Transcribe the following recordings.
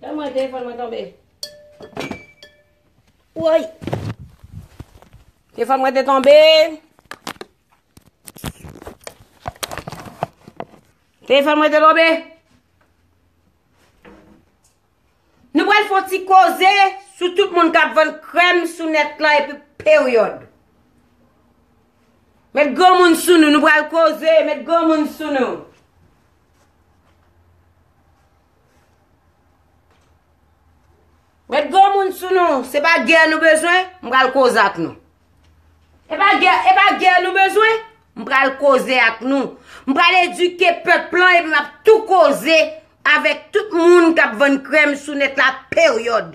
Dam mwen telefon mwen tonbe. Woy. Telefon mwen te tonbe. Telefon mwen te tonbe. Nou pral fon ti koze sou tout moun kap van krem sou net la epi period. Met gran moun sou nou, nou pral koze, met gran moun sou nou. Met gwo moun sou nou, se pa gè nou bezwen, m pral koze ak nou. E pa gè, e pa gè nou bezwen, m pral koze ak nou. M pral edike pèp lan epi m ap tou koze avèk tout moun k ap vann krèm sou nèt la peryòd.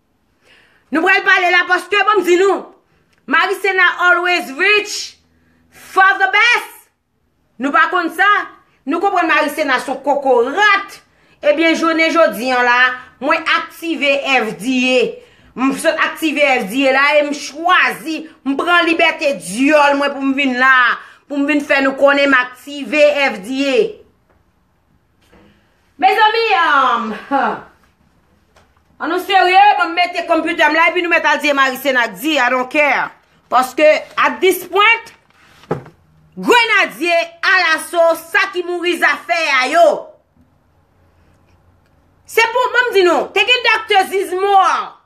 Nou pral pale la paske banm di nou, Maricena always reach for the best! Nou pa konn sa? Nou konprann Maricena son kokorat? Ebyen jounen jodi an la, mwen aktive FDA. M sot aktive FDA la e m chwazi, m pran libète dyòl mwen pou m vin la, pou m vin fè nou konnen m aktive FDA. Mezanmi An nou serye Mwen mete computer m la epi nou mèt al di e Marise nan di I don't care Paske at this point Grenadye alaso sa ki mouri zafè a yo Se pou mwen m di nou Te gen Doctor Zizmore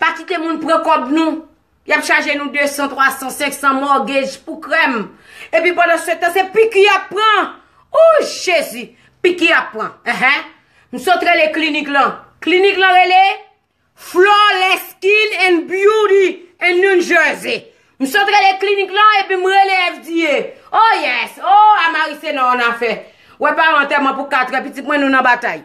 Pa kite moun pran kòb nou. Y ap chaje nou 200, 300, 500 mortgage pou krèm. Epi pandan se tan se piki y ap pran. Ooh Jezi! Piki y ap pran. Enhen. M sot rele klinik lan. Klinik lan rele Flawless Skin and Beauty in New Jersey. M sot rele klinik lan epi m rele FDA. Oh yes! Oh Amarise nan yon afè. Wè pa yon antèman pou katrè pitit mwen nou nan batay.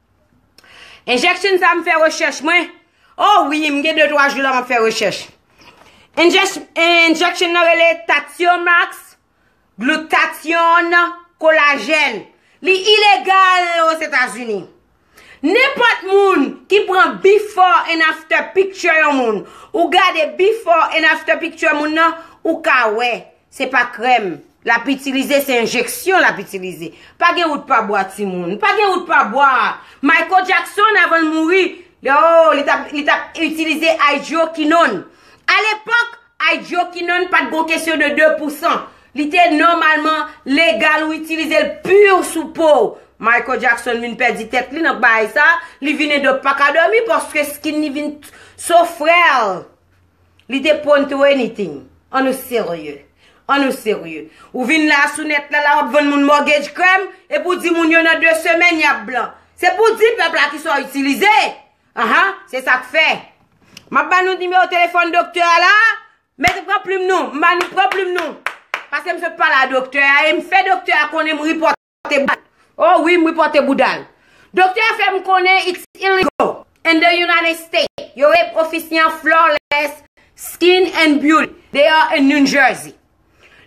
Injection sa m fè recherche mwen. Oh wi m gen 2 3 jou la map fè recherche. Injection nan rele Tathiomax glutathione collagen. Li ilegal o Zetazini. Nenpot moun ki pran before and after picture yon moun. Ou gade before and after picture moun nan ou ka wè. Se pa krèm lap itilize se enjeksyon lap itilize. Pa gen wout pa bwa timoun. Pa gen wout pa bwa. Michael Jackson avanl mouri ooh li tap li tap itilize hydroquinone. A lepòk hydroquinone pat gon kesyon de 2 pou 100. Li te nòmalman legal ou itilizel pur sou pow. Michael Jackson vin pèdi tèt li nan baay sa. Li vin indo paka dòmi paske skin li vin so frèl. Li te pwonn to anything. An nou serye. An nou serye. Ou vin la sou nèt la la wap vann moun mortgage krèm epi ou di moun yo nan 2 semèn yap blan. Se pou w di pèp la kisa w itilize. Aha, se sak fè. Map ba nou nimewo telefòn doktè a la. Mete pran plim nou. M ba nou pran plim nou. Paske m sot pale a doktè a e m fè doktè a konnen m ripòt. pote bouda l. Oh wi m ripote bouda l. Doktè a fè m konnen it's illegal in the United States. Yo rele ofisyen an Flawless Skin and Beauty. They are in New Jersey.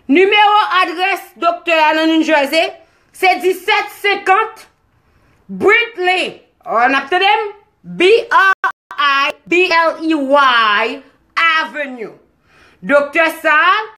Nimewo adrès doktè a nan New Jersey se 1750 Brinkley, n ap tande m, B-R-I-N-K-L-E-Y Avenue. Doktè sa a.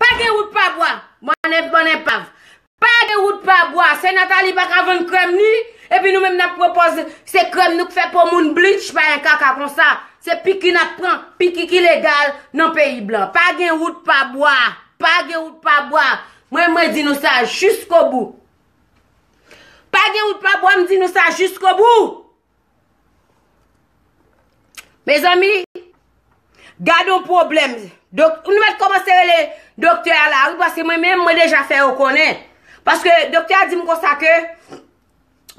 Pa gen wout pa bwa! Bon e bon epav! Pa gen wout pa bwa! Sè Nathalie pa ka vann krèm li, epi nou menm n'ap pwopòz se krèm nou k fè po moun bleach pa gen kaka konsa! Se piki n'ap pran, piki ki legal nan peyi blan! Pa gen wout pa bwa! Pa gen wout pa bwa! Mwen mwen di nou sa jiskobou! Pa gen wout pa bwa m'di nou sa jiskobou! Mezanmi, gad yon pwoblèm. Nou mèt kòmanse rele doktè a la, wi, paske mwen menm, mwen deja fè yo konnen. Paske doktè a di m konsa ke,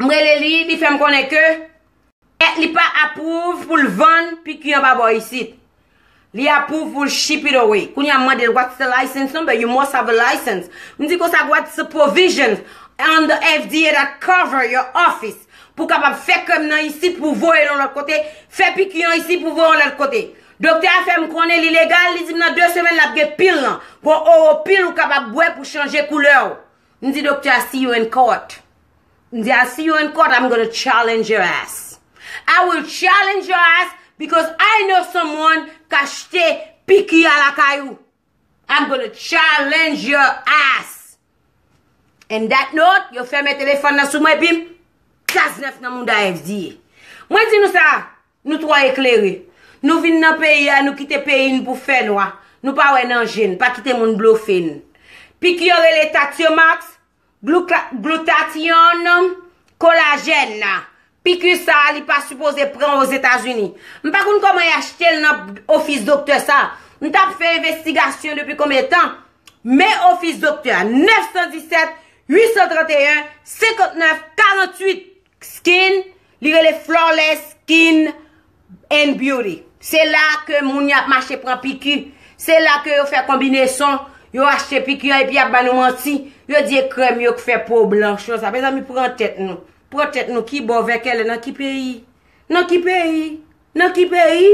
m rele li, li fè m konnen ke, li pa apwouv pou l vann piki anba bò isit. Li approve pou l ship it away. Kounye a m mande l what's the license number, you must have a license. M di konsa what's the provisions on the FDA that cover your office pou w kapab fè krèm nan isit pou w voye l yon lòt kote, fè piki an isit pou w voye l yon lòt kote. Doktè a fè m konnen li legal, li di m nan 2 semèn l ap gen pil lan. Gon oro pil ou kapab bwè pou chanje koulè w. M di doktè a see you in court M di I'll see you in court I'm gonna challenge your ass I will challenge your ass because I know someone k achte piki a lakay ou I'm gonna challenge your ass And that note yo fèmen telefòn nan sou mwen epi m kras nèf nan mouda FDye Mwen di nou sa Nou twò eklere. Nou vin nan peyi a, nou kite peyi n pou fè nwa. Nou pa wè nan je n. Pa kite moun blofe n. Piki yo rele Tatiomax, Glutathione, Collagèn. Piki sa a li pa sipoze pran Ozetazini. M pa konn kòman y achte l nan ofis doktè sa a. M t ap fè envestigasyon depi konbyen tan. Men ofis doktè a, 917 831 59 48. Skin, li rele Flawless Skin and Beauty. Se la ke moun y ap mache pran piki. Se la ke yo fè konbineson, yo achte piki an epi y ap ba nou manti. Yo di e krèm yo k fè po blanch yo sa. Mezanmi pran tèt nou. Pran tèt nou ki bò vè kè lè nan ki peyi? Nan ki peyi? Nan ki peyi?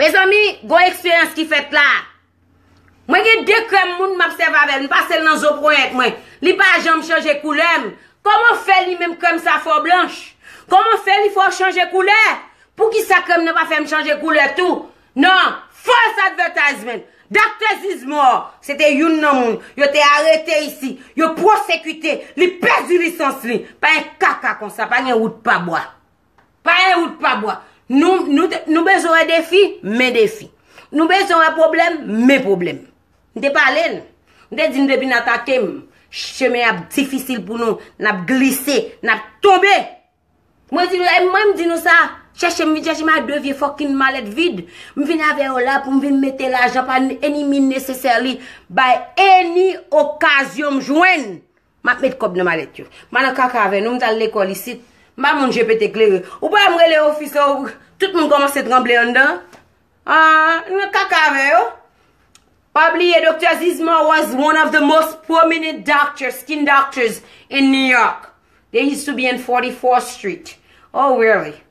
Mezanmi, gon eksperyans ki fèt la. Mwen gen de krèm moun map sèv avèl, m pasel nan zo ponyèt mwen. Li pa janm chanje koulè m. Koman fè li menm krèm sa fè w blanch? Koman fè li fè w chanje koulè? Poukisa krèm nan pa fè m chanje koulè tou? Nan False Advertisement, Doctor Zizmore, se te youn nan moun yo te arete isi, yo pwosekite, li pèdi lisans li. Pa gen kaka konsa, pa gen wout pa bwa. Pa e ou t pa bwa. Nou bezwen wè defi, men defi. Nou bezwen wè pwoblèm, men pwoblèm. M te pale n. M te di n depi n atake m, chemen ap difisil pou nou, n ap glise, n ap tonbe. Mwen di nou, e mwen m di nou sa, chèche m vin chèche m ak de vye fòkinn malèt vid. M vin avè yo la pou m vin mete lajan pa any mean necessarily, bay any okazyon m jwenn. M ap met kòb nan malèt yo. M pa nan kaka avè nou, m t al lekòl isit. M pa moun je pete klere. Ou pa wè m rele ofis la ou Tout moun kòmanse tranble anndan an. A, nou nan kaka avè yo. Pa bliye Doktè Zismar was one of the most prominent doctors, skin doctors, in New York. They used to be in 44th Street. Oh really?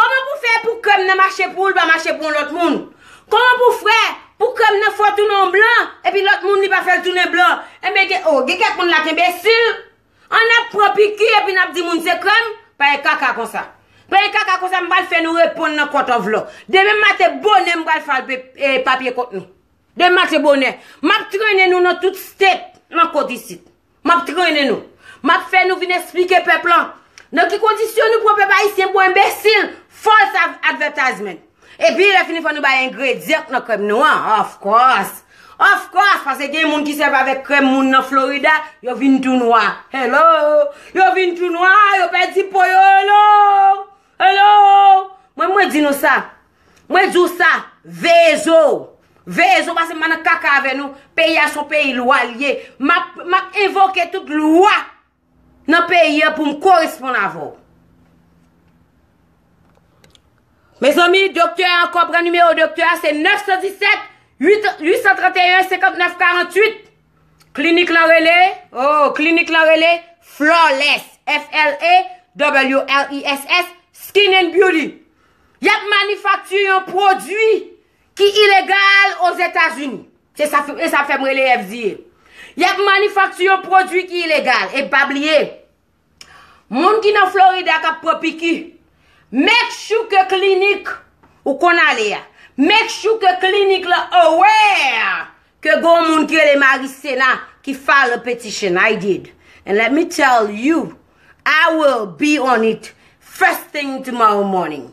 Koman pou fè pou kèm nan mache poul pa mache pou yon lòt moun? Koman pou fè pou kèm nan fò tounen yon blan epi lòt moun li pa fèl tounen blan? Enben gen oh gen kèk moun la k enbesil an nap pran piki epi nap di moun se kèm? Pa gen kaka konsa. Pa gen kaka konsa m pral fè nou reponn nan court of law. Demen maten bonè m pral file papye kont nou. Demen maten bonè. Map trennen nou nan tout state nan kot isit. M ap trennen nou. M ap fè nou vin esplike pèp lan nan ki kondisyon nou pran pèp ayisyen pou enbesil. False advertisement. Epi lè fini fò nou bay engredyan k nan krèm nou an. Of course! Of course! Pase gen moun ki sèvi avèk krèm moun nan Florida, yo vin tou nwa. Hello! Yo vin tou nwa, yo pèdi po yo. Hello! Hello! Mwen mwen di nou sa. Mwen di w sa, veye zo w. Veye zo w pase m pa nan kaka avè nou. Peyi a son peyi lwa l ye. M ap envoke tout lwa nan peyi a pou m koresponn avè w. Mezanmi, doktè a ankò pran nimewo doktè a se 917 831 59 48. Klinik lan rele, oh, klinik lan rele Flawless, F-l-a-w-l-e-s-s, Skin and Beauty. Y ap manifakti yon pwodui ki ilegal Ozetazini. Se sa fè m rele FDA. Y ap manifakti yon pwodui ki ilegal. E pa bliye, Moun ki nan Florida kap pran piki, make sure ke klinik ou konn ale a, make sure ke klinik la aware ke gon moun ki rele Maricena ki file a petition, I did. And let me tell you, I will be on it first thing tomorrow morning.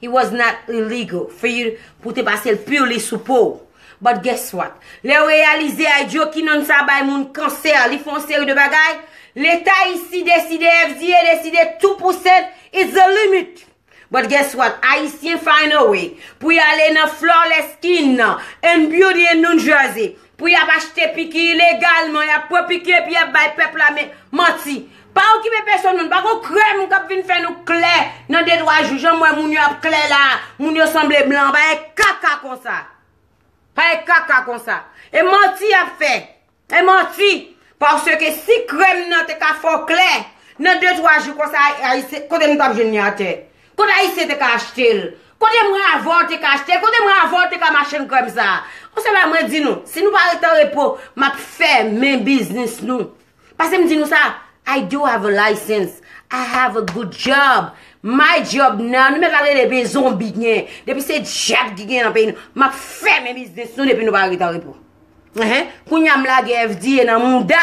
It was not illegal for you pou te pase l purely sou po w. But guess what? Lè yo reyalize Hydroquinone sa bay moun kansè, li fè yon seri de bagay, Leta isi deside, FDA deside two percent is the limit. But guess what? Ayisyen find a way pou y ale nan Flawless Skin nan and Beauty in New Jersey Pou yap achte piki ilegalman, yap pran piki epi yap bay pèp la men, manti. Pa okipe pesonn moun, pa gon krèm kap vin fè nou klè nan de twa jou, janm wè moun yo ap klè la, moun yo sanble blan, pa gen kaka konsa. Pa gen kaka konsa. E manti yap fè. E manti. Paske si krèm nan te ka fè w klè, nan de twa jou konsa, kote nou tap jwenn li atè? Kot ayisyen te ka achtel? Kot emra avò te ka achtel? Kot emra avò te ka machenn krèm sa? On sèl bagay mwen di nou, si nou pa rete an repo, map fèmen biznis nou. Pase m di nou sa, I do have a license, I have a good job, my job nan, nou mèt la rele de zonbi gen, depi se dyab ki gen nan peyi nou, map fèmen biznis nou depi nou pa rete an repo. Kounya m lage FDA nan mouda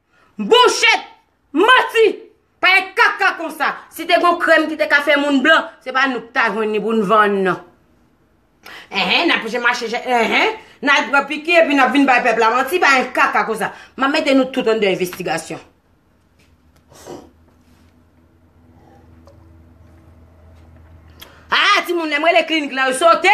Bouchet! Manti! Pa e kaka konsa! Si te gon krèm ki te ka fè moun blan, se pa nou ki ta jwenn li pou n vann nan. Enhen, n ap je mache je, enhen, n al pran piki epi n ap vin bay pèp la manti, pa e kaka konsa. M ap mete nou tout anndan envestigasyon. Haa, timoun, lè m rele klinik la, yo sote!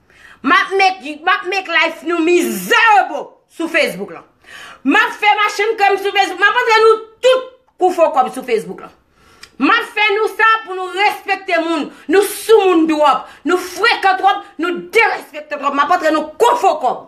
Map met map make life nou mizerable sou Facebook lan. Map fè machann krèm sou Facebook. Map montre nou tout kou fo kòb sou Facebook lan. Map fè nou sa pou nou respekte moun. Nou soumoun twòp. Nou frekan twòp. Nou derespektan twòp. Map montre nou kou fo kòb.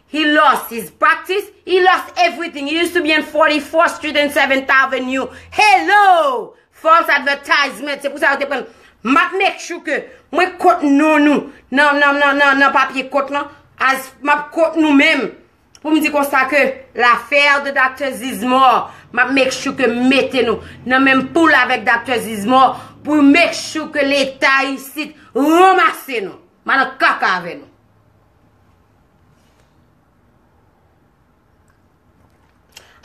He lost his practice, he lost everything, he used to be in 44th street and 7th avenue, hello! False advertisement, se pou sa yo te pran, map make sure ke mwen kot non nou nan papye kot lan, as map kot nou menm, pou m di konsa ke l'affaire de Doctor Zizmore, map make sure ke m mete nou nan menm poul avèk Doctor Zizmore, pou make sure ke leta isit ranmase nou, madan kaka avè nou.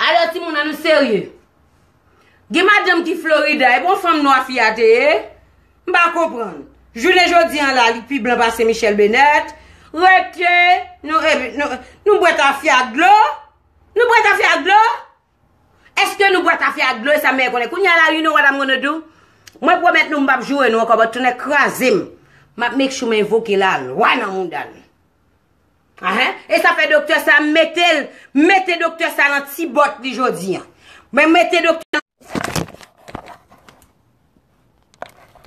Alò timoun an nou serye. Gen madanm ki Florida, e bon fanm nwa fi a te ye? M pa konprann. Jounen jodi an la li pi blan pase Michèl Benèt. Rete, nou bwè tafya ak dlo? Nou bwè tafya ak dlo? Eske nou bwè kafe ak dlo e sa meyè konnen kounya la you know what I'm gonna do mwen pwomèt nou m pap joure nou ankò but tonnè kraze m map make sure m envoke la lwa nan mouda nou ahen e sa fè doktè sa m mete l m mete doktè sa nan ti bòt li jodi an mwen mete doktè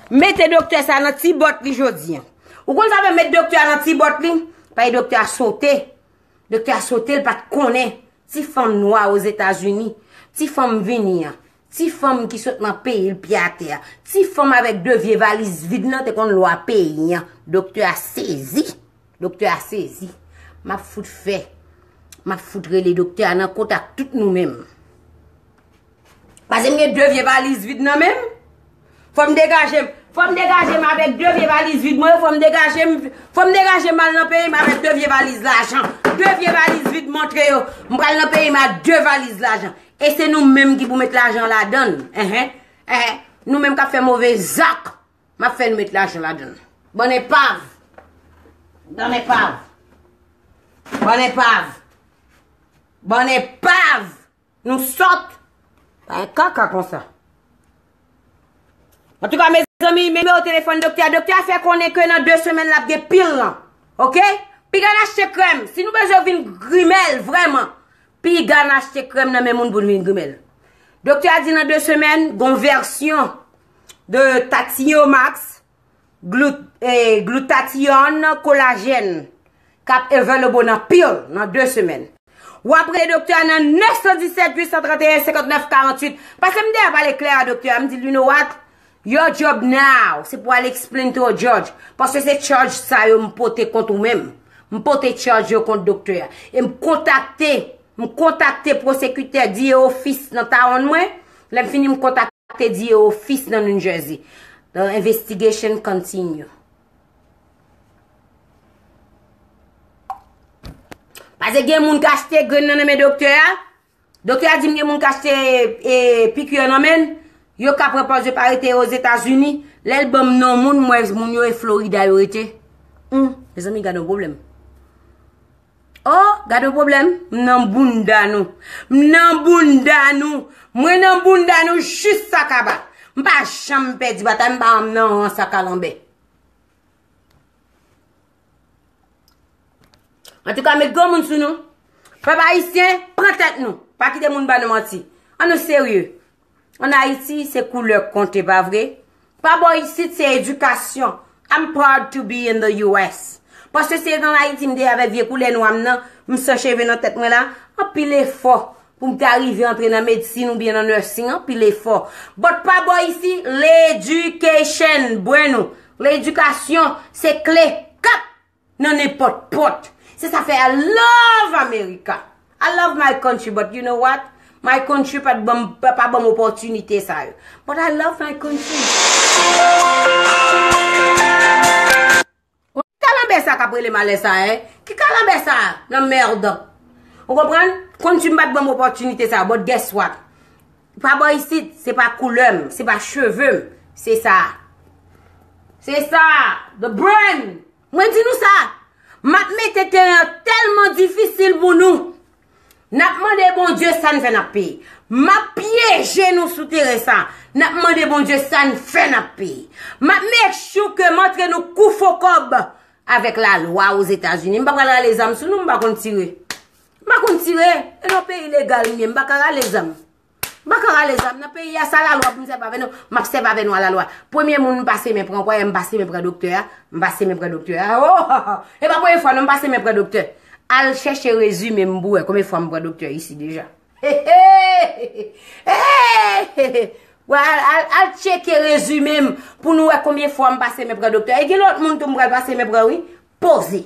Mete doktè sa nan ti bòt li jodi an. Ou konn sa vle met doktè a nan ti bòt li? Paye doktè a sote. Doktè a sote l pa t konnen. Ti fanm nwa o Zetazini. Ti fanm vini an. Ti fanm ki sot nan peyi l pye atè a. Ti fanm avèk de vye valiz vid nan te konn lwa peyi an. Doktè a sezi. Doktè a sezi. M ap fout fè. M ap fout rele doktè a nan kontak tout nou menm. Pase m gen 2 vye valiz vid nan menm. Fò m degaje m. Fò m degaje m avèk 2 vye valiz vid mwen. Fò m degaje m. Fò m degaje m al nan peyi m avèk 2 vye valiz lajan. 2 vye valiz vid montre yo. M pral nan peyi m ak 2 valiz lajan. E se nou menm ki pou met lajan ladann. Enhen. Enhen. Nou menm kap fè move zak. M ap fè nou met lajan ladann. Bann enpav. Bann enpav. Bann enpav. Bann enpav. Nou sòt! Pa gen kaka konsa. An tou ka mezanmi, nimewo telefòn doktè a. Doktè a fè konnen ke nan 2 semèn la ap gen pil lan. Ok? Piga n achte krèm. Si nou bezwen vin grimèl vrèman, piga n achte krèm nan men moun pou n vin grimèl. Doktè a di nan 2 semèn, gon vèsyon de Tatiyo Max Glutathione Collagen kap available nan pill nan 2 semèn. Wap rele doktè a nan 917 831 59 48. Pase m deyò pale klè a doktè a m di l you know what? Your job now se pou al explain to a judge paske se charge sa yo m pote kont ou menm. M pote charge yo kont doktè a. E m kontakte. M kontakte pwosekitè Dieu Office nan Towne mwen, lè m fini m kontakte Dieu Office nan New Jersey. The investigation continue. Pase gen moun k achte grenn nan nan men doktè a, doktè a di m gen moun k achte piqûre nan men l, yo ka pran pòz yo pa rete yo Ozetazini, lè l ban m non moun m wè moun yo e Florida yo rete. Humm, mezanmi gad yon pwoblèm. Oh gade yon pwoblèm m nan bounda nou m nan bounda nou mwen nan bounda nou jis sa kaba m pa janm pèdi batay m pa janm nan rans a kalanbè antouka met granmoun sou nou pèp ayisyen pran tèt nou pa kite moun ba nou manti an nou serye An Ayiti, se koulè k konte, pa vre? Pa bò isit, se edikasyon. I'm proud to be in the US. Paske se an Ayiti m te avèk vye koulè nwa m nan, m san cheve nan tèt mwen la, anpil efò pou m ta rive antre nan medsin oubyen nan nursing, anpil efò. But pa bò isi, l education, brenw, l edikasyon se kle. Kap! Nan nenpòt pòt. Se sa fè I love America. I love my country but you know what? My country pa ban m opòtinite sa yo. But I love my country. Ki kalanbè sa kap rele m alè sa a? Ki kalanbè sa a nan merde? Ou konprann? Country m pa t ban m opòtinite sa yo but guess what? Pa bò isit, se pa koulè m, se pa cheve m, se sa a. Se sa a, the brain! Mwen di nou sa, m ap mete teren an tèlman difisil pou nou. N ap mande Bondye sa n fè n ap peye. M ap pyeje nou sou teren sa a. N ap mande Bondye sa n fè n ap peye. M ap make sure ke m antre nou kou fo kòb avèk lalwa Ozetazini. M pa pral rale zam sou nou, m pa konn tire. M pa konn tire, e nan peyi legal m ye, m pa ka rale zam. M pa ka rale zam nan peyi a, sa lalwa pou m sèvi avè nou, m ap sèvi avè nwa lalwa. Premye moun m pase men pran, kwè m pase men pran doktè a, m pase men pran doktè a, o! E pa premye fwa non m pase men pran doktè. Al chèche rezime m pou wè konbyen fwa m pran doktè isi deja. He he! He he! Wè al tcheke rezime m pou nou wè konbyen fwa m pase men pran doktè. E gen lòt moun tou m pral pase men pran wi. Poze!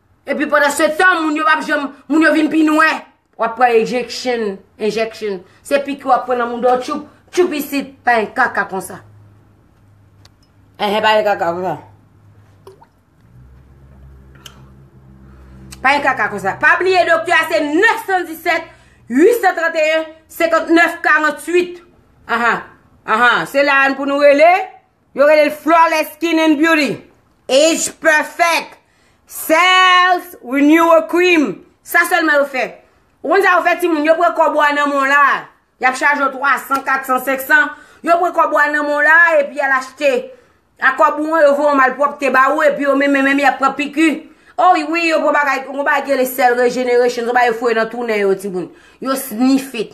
Epi pandan se tan moun yo pap janm moun yo vin pi nwè. Wap pran ejeksyon, enjeksyon. Se piki wap pran nan moun do tchoup, tchoup isit. Pa yon kaka konsa. Enhen pa yon kaka konsa. Pa yon kaka konsa. Pa bliye dokte a se 917, 831, 59, 48. Aha, aha, se la an pou nou rele. Yo rele l Flawless Skin and Beauty, Age Perfect, Cells Renewal Cream. Sa sèlman yo fè. Ou konn sa yo fè timoun? Yo pran kòb ou a nan men w la a. Y ap chaje w 300, 400, 500. Yo pran kòb ou a nan men w la a epi y al achte. Ak kòb ou an, yo voye yon malpwòpte ba ou epi yo menmen menm y ap pran piki. O wi, yo pran bagay, yon bagay ki rele Cell Regeneration, son bagay yo foure nan tou nen yo timoun. Yo sniff it.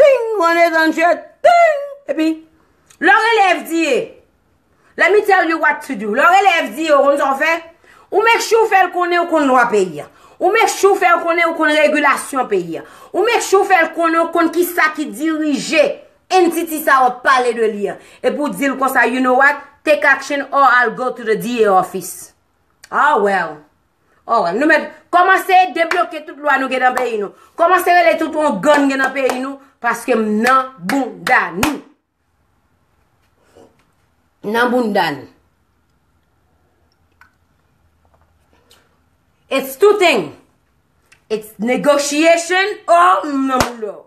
Ting! Ou anlè dan je! Ting! Epi, lè yon elèv di e, let me tell you what to do, lè yon elèv di e ou konn sa w fè? Ou make sure ou fè l konnen ou konn lwa peyi a. Ou make sure ou fè l konnen ou konn regilasyon peyi a. Ou make sure ou fè l konnen ou konn ki sa ki dirije entity sa a w ap pale de li a. Epi ou di l konsa, you know what, take action or I'll go to the DA office. Ah well! Oh, nou met, komanse debloke tout lwa nou gen nan peyi nou. Komanse rele tout ou gan gen nan peyi nou, paske m nan bounda nou. Nan bounda nou. It's two thing. It's negotiation or m nan bounda ou.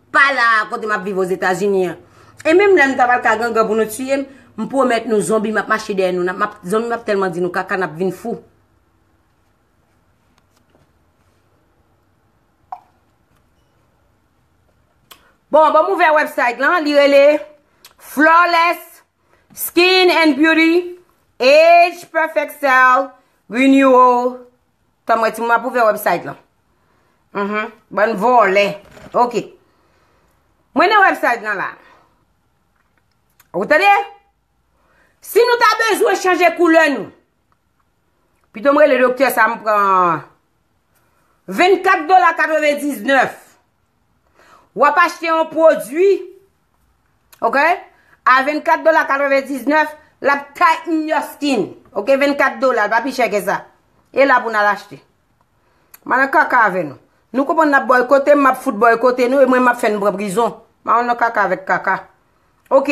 Pa la a kote m ap viv Ozetazini an. E menm lè nou ta pral ka gangan pou nou tiye m, m pwomèt nou zonbi m ap mache dèyè nou. Zonbi m ap tèlman di nou kaka n ap vin fou. Bon, ban m ouvè website lan. Li rele Flawless Skin and Beauty Age Perfect Cell Renewal. Tanm wè timoun map ouvè website lan. Uhmm bann vòlè. Ok. Mwen nan website nan la. Ou tande? Si nou ta bezwen chanje koulè nou. Pito mwen le doktè sa m pran 24 dola 99. Wap achte yon pwodwi. Ok? A 24 dola 99, l ap tighten your skin. Ok? 24 dola, l pa pi chè ke sa. E la pou n al achte. M al nan kaka avè nou. Nou konprann n ap boykote m, m ap fout boykote nou e mwen m ap fè nou pran prizon. M al nan kaka avèk kaka. Ok.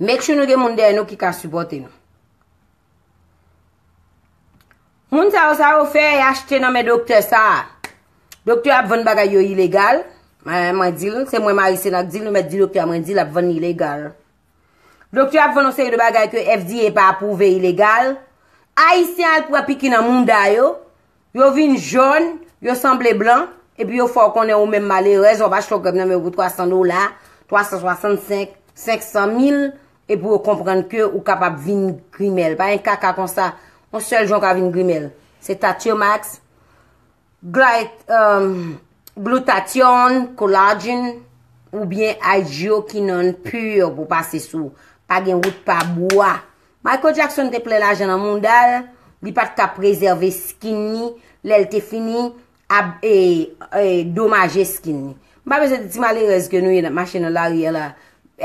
Make sure nou gen moun dèyè nou ki ka supporte nou. Moun sa yo sa yo fè y achte nan men doktè sa. Doktè ap vann bagay yo ilegal. Mwen di l, se mwen Marise nan k di l, nou mèt di doktè mwen di l ap vann ilegal. Doktè ap vann yon seri de bagay ke FDA pa apouve ilegal. Ayisyen al pran piki nan moun da yo. Yo vin jòn, yo sanble blan, epi yo fè w konnen ou menm malerèz w ap achte yon krèm nan men yo pou 300 dola, 365, 500 mil, epi yo konprann ke ou kapab vin grimèl. Pa gen kaka konsa, yon sèl jan w ka vin grimèl. Se Tatiyomax, Glutathione, Collagen, oubyen Hydroquinone pur pou pase sou. Pa gen wout pa bwa. Michael Jackson te plen lajan nan moudal, li pat ka prezève skin ni, lèl te fini ab e e domaje skin ni. M pa bezwen di ti malerèz ke nou ye nap mache nan lari a la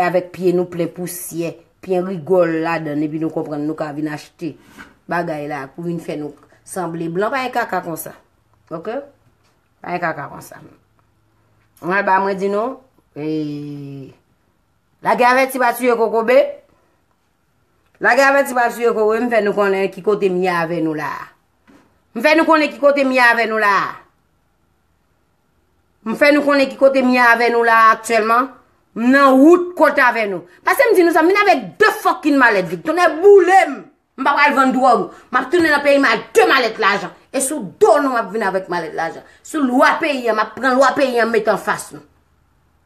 avèk pye nou plen pousyè, pyen rigòl ladann epi nou konprann nou ka vin achte bagay la pou vin fè nou sanble blan pa gen kaka konsa. Ok? Pa gen kaka konsa. Mwen al ba mwen di nou e lage avèti pa tiye kokobe. Lage avèti pa sou yo kowe m fè nou konnen ki kote m ye avè nou la a. M fè nou konnen ki kote m ye avè nou la a. M fè nou konnen ki kote m ye avè nou la a aktyèlman. M nan wout kont avè nou. Pase m di nou sa, m vin avèk 2 fokkin malèt vid. Tonnè boule m! M pa pral vann dwòg. M ap tounen nan peyi m ak 2 malèt lajan. E sou do nou m ap vin avèk malèt lajan. Sou lwa peyi an, m ap pran lwa peyi an m met anfas nou.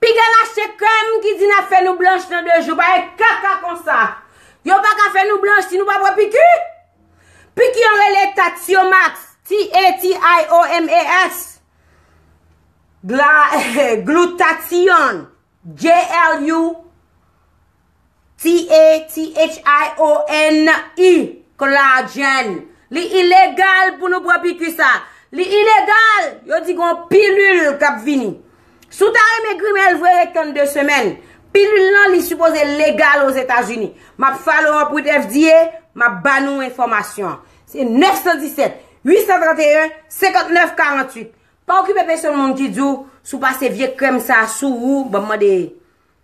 Piga la se kèm ki di nap fè nou blanch nan 2 jou pa e kaka konsa yo paka fè nou blanch si nou pa pran piki piki an rele tatiomax t a t i o m a x gla glutathione g l u T-h-i-o-n-e, Claudjane. Li ilegal pou nou pran piku sa. Li ilegal! Yo di gon pilul kap vini. Si w ta renmen grimèl vre ret tann 2 semèn. Pilul lan li sipoze legal o Zetazini. Map follow up with FDA, map ba nou enfòmasyon an. Se 917 831 59 48. Pa okipe pesonn moun ki di w si w pase vye krèm sa sou ou, banm mande.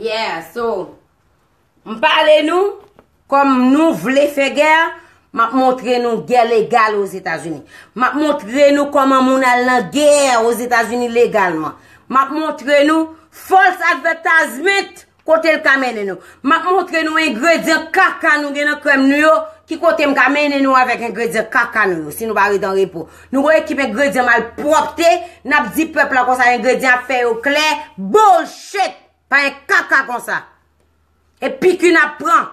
Yeah, so, m pale nou, kòm nou vle fè gè, m ap montre nou gè legal o Zetazini. M ap montre nou kòman moun al nan gè o Zetazini legalman. M ap montre nou false advertisement Kote l ka mennen nou? M ap montre nou engredyan kaka nou gen nan krèm nou yo, ki kote m ka mennen nou avèk engredyan kaka nou yo, si nou pa ret an repo. Nou gon ekip engredyan malpwòpte, n ap di pèp la konsa engredyan ap fè yo klè, bullshit! Pa gen kaka konsa. E piku n ap pran.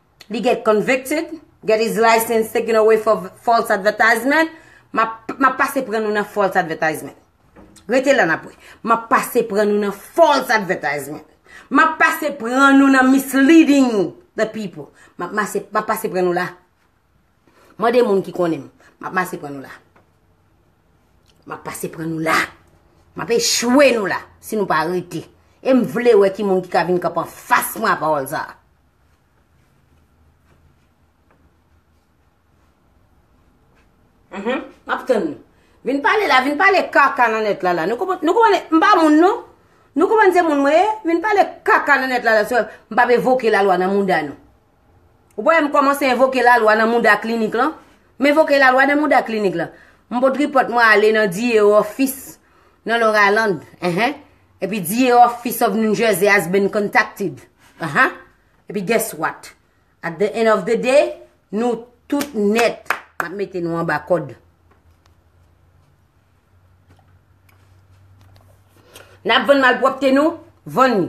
Li get convicted, get his license taken away for false advertisement, map pase pran nou nan false advertisement. Rete la nap wè. Map pase pran nou nan false advertisement. Map pase pran nou nan misleading the people. Map pase pran nou la. Mande moun ki konnen m. Map pase pran nou la. Map pase pran nou la. Map echwe nou la. Si nou pa rete. E m vle wè ki moun ki ka vin kap an fas mwen a pawòl sa a. Mhn, map tann nou. Vin pale la, vin pale kaka nan net la la. Nou konprann, nou konprann, m pa moun non. Nou konprann se moun mwen ye? Vin pale kaka nan net la la sou m pa evoke la lwa nan mouda nou. Ou pa wè m komanse evoke la lwa nan mouda klinik lan? M evoke la lwa nan mouda klinik lan. M pot tripòt mwen ale nan diye ofis nan loraland. Enhen. Epi di e office of New Jersey has been contacted aha epi guess what at the end of the day nou tout nèt map mete nou anba kòd nap vann malpwòpte nou vann li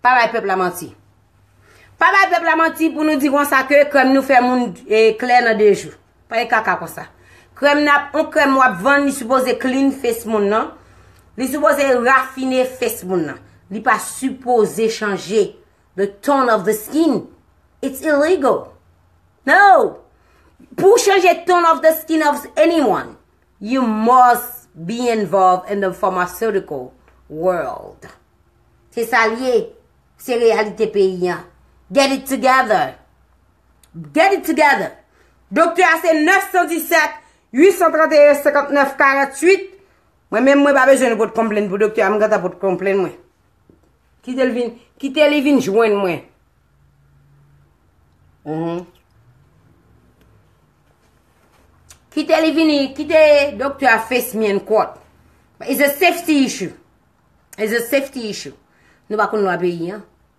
pa bay pèp la manti pa bay pèp la manti pou nou di konsa ke kòm nou fè moun klè nan 2 jou. Pale kaka konsa. Krèm nan, on krèm wap vann li sipoze clean face moun nan. Li sipoze rafine face moun nan. Li pa sipoze chanje the tone of the skin. It's illegal. No! Pou w chanje tone of the skin of anyone, you must be involved in the pharmaceutical world. Se sa l ye. Se reyalite peyi an. Get it together! Get it together! Doktè a se 917 831 59 48 Mwen menm mwen pa bezwen nou pot konplenn pou doktè a m gentan pot konplenn mwen. Kite l vin, kite li vin jwenn mwen. Kite li vini, kite doktè a fes mi an kòt. It's a safety issue. It's a safety issue. Nou pa konn lwa peyi an.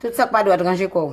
Tout sak pa dwat ranje kow.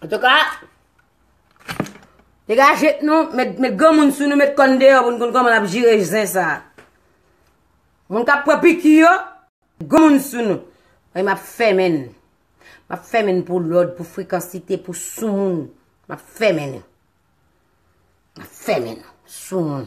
An tou ka, te gaje t nou, met gen moun sou nou, met kon deyo, moun kon kon moun ap jire jen sa. Moun kap pran piki yo, gen moun sou nou. Mwen map femen, map femen pou lod, pou frekansite, pou sou moun. Map femen, map femen, sou moun.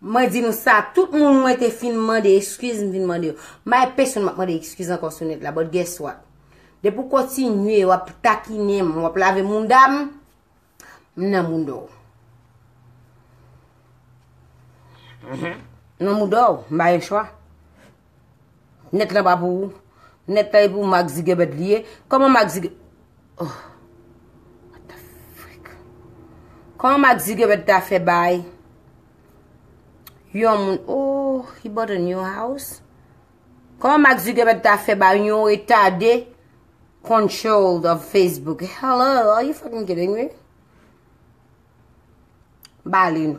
Mwen di nou sa, tout moun mwen te fin mande eskiz, m vin mande yo. M pa gen pesonn m ap mande eskiz ankò sou nèt la, but guess what? Depi w kontinye, w ap takinen m, w ap lave mounda m, m nan mounda w. M nan mounda w, m pa gen chwa. Net lan pa pou ou Net lan e pou Mark Zuckerberg li ye Koman Mark Zuckerberg Oh What the freak Koman Mark Zuckerberg ta fè bay Yon moun Oh He bought a new house Koman Mark Zuckerberg ta fè bay yon retade Control of Facebook Hello Are you fucking kidding me Bali nou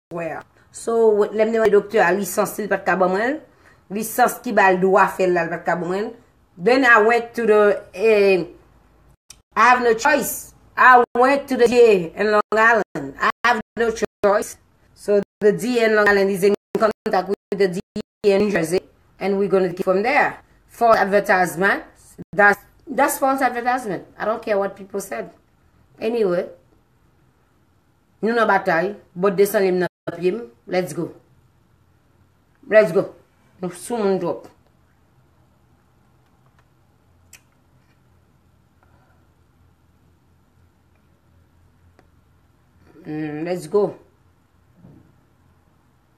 wè a. So, lè m te mande doktè a lisans li, li pa t ka ban mwen l. Lisans ki ba l dwa fè l la, li pa t ka ban mwen l. Then I went to the eh, I have no choice. I went to the DA in Long Island. I have no choice. So the DA in Long Island is in contact with the DA. in New Jersey and we gonna take it from there false advertisement that's false advertisement I don't care what people said anyway nou nan batay bòt desanlim nan pyem let's go let's go nou sou moun drop hmm, let's go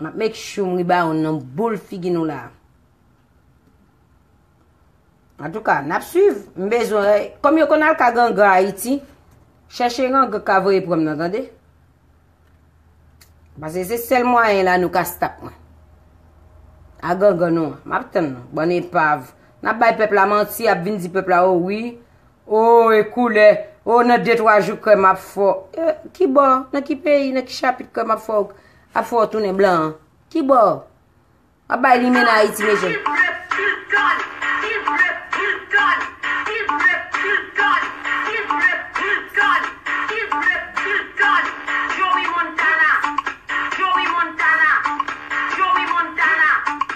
Map make sure m riba yon nan boul figi nou la. Antouka, nap swiv. M bezwen wè. Kòm yo konn al ka gangan Ayiti, chèche gangan ka voye pran m nan tande. Pase se sèl mwayen la nou ka stop mwen. A gangan nou an. Map tann nou. Bann epav. Nap bay pèp la manti, ap vin di pèp la o wi. Oh e koulè oh nan de twa jou kèm ap fè w eh kibò nan ki peyi nan ki chapit kèm ap fè w ap fè w tounen blan an kibò wap bay limenna ayiti mesye m.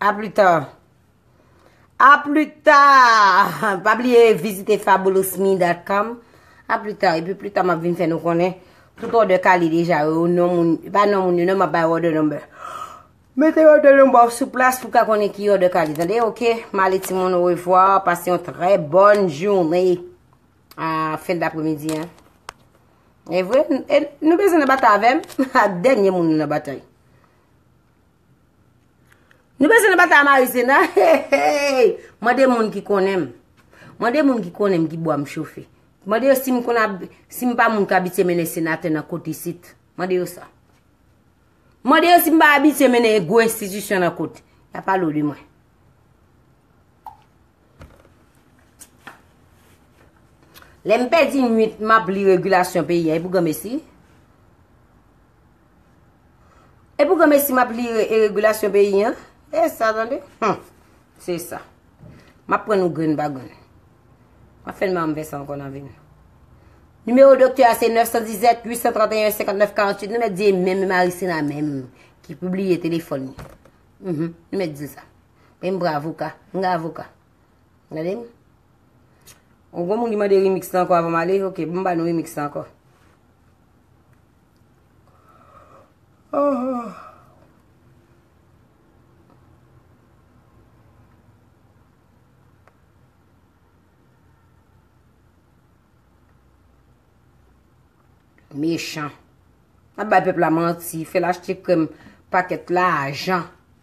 A plus tard. A plus tard. Pa bliye vizite fabulousme.com. A plus tard. E pi plus tard map vin fè nou konnen tout order kale deja yo. Non moun, pa non moun yo, non map bay order number. Mete order number ou sou plas pou ka konnen ki order kale. Tande, ok? Male ti moun ou evwa. Pase yon trè bon jounè. A fin d'apremidi, an. E vre, nou bezou nan batay avèm? Ha, denye moun nou nan batay. Nou bezwen nan batay a Marizena? Heyy! Mande moun ki konnen m. Mande moun ki konnen m ki bwa m chofe. Mande yo si m konn ap, si m pa moun k abitye mennen senatè nan kot isit. Mande yo sa. Mande yo si m pa abitye mennen e gwo enstitisyon nan kot. Y ap pale w de mwen. Lè m pèdi nwit m ap li regilasyon peyi a, e pou granmesi? E pou granmesi map li e regulasyon peyi an? E sa tande? Hum! Se sa. Map pran nou grenn pa grenn. Map fè nman mwen sa ankon nan vim. Nimewo doktè a se 917 831 59 48. Nou mèt di e menm Marisina menm ki publiye telefon ni. Hum! Nou mèt di sa. Menm bra avoka. Mwen ga avoka. Gade m. Ou gwa moun ki mande remix nan ankon avan male? Ok, mwen ba nou remix nan ankon. Mechan. Nan bay pep la manti. Fè l achte krem paket la ajan.